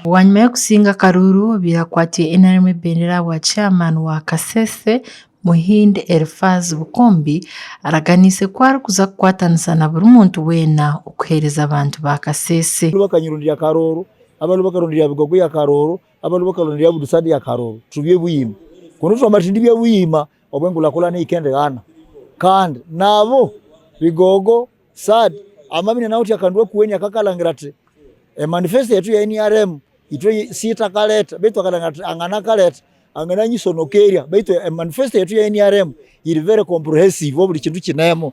Bwanyima y'okusinga akaruru birakwatwa nrm ebendera ahabwa chairman wa kasese Muhind Elfaz Bukombi araganiise ku arikuza kukwatanisa na buri muntu weena okuhereza abantu ba kasese. Abanu bakanyirondirya Karooro, abanu bakarondirya Bigogwe ya Karooro, abanu bakarondirya Budusaad ya Karooro. Turi bye buyima. Konka twamara turi bye buyima. obu enkulakulana ehika endigaana. Kandi nabo Bigogo, sad, Amabi na Nauti akandwa okuhwenya ka akalangira ati, E manifesto yetu ya nrm itwe si itakaleta beitu akalangira ati angana akaleta angana anyisonoka erya beitu e manifesto yetu ya nrm iri very comprehensive oburi kintu kinemu.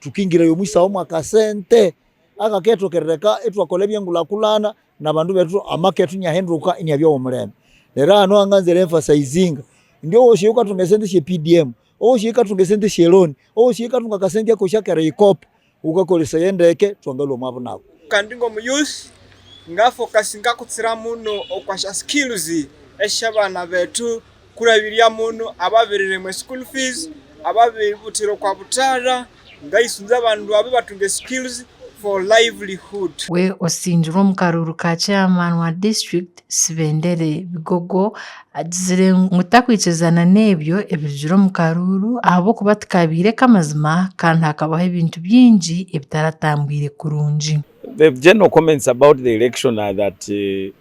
Tukiingirayo omu isaaho omu akasente aka keetokerereka ei twakora eby'enguraakuraana na bantu baitu amaka eitu nyahinduka enyabya ow'omulembe. Reero aha niho nganza re emphasizinga ndi obu osheija okatunga esente esha PDM, obu osheija okatunga esente esha loan, obu osheija okatunga akasente ako esha Kereikope, ukakoreseye endeeke twagarura omu abunabwo. Kandi nk'omu youth ngafokasinga kutsira muno okwasha skills esh'abaana baitu kurabirya munu ababereremwe school fees ababebutire kwa butara ngaisunze abanu babe batunge skills for livelihood. We osingirwe omu karuru ka chairman wa district Sibendere Bigogo agizire ngu takwikirizana n'ebyo ebirugire omu karuuru ahabw'okuba tikaabaire k'amazima kandi hakabaho ebintu bingi ebitaratambwire kurungi. The general comments about the election are that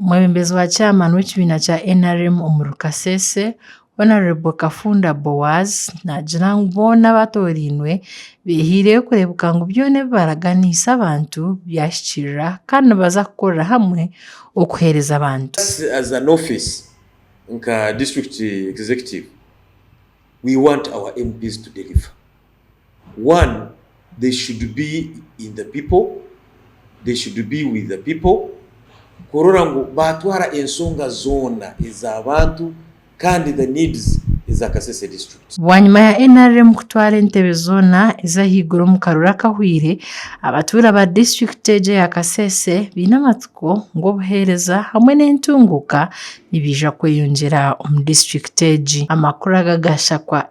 Omwebembezi wa chairman w'ekibiina kya nrm omuri Kasese, Hon Kafunda Boaz naagira ngu boona abaatorainwe beehireyo kureebeka ngu byona ebi baraganiise abantu byahikirira kandi nibaza kukorera hamwe okuheereza abantu. Just as an office nka district executive we want our MPs to deliver. one they should be in the people, they should be with the people kurora ngu batwara ensonga zoona ezabantu kandi the needs eza Kasese district. Bwanyima ya nrm kutwara entebe zoona ezahaiguru omu karuru akahweire, abatuura aba district egyo eya Kasese baine amatsiko ngu obuheereza hamwe n'entunguuka nibiija kweyongyera omu district egi. Amakuru aga ga Shakwa.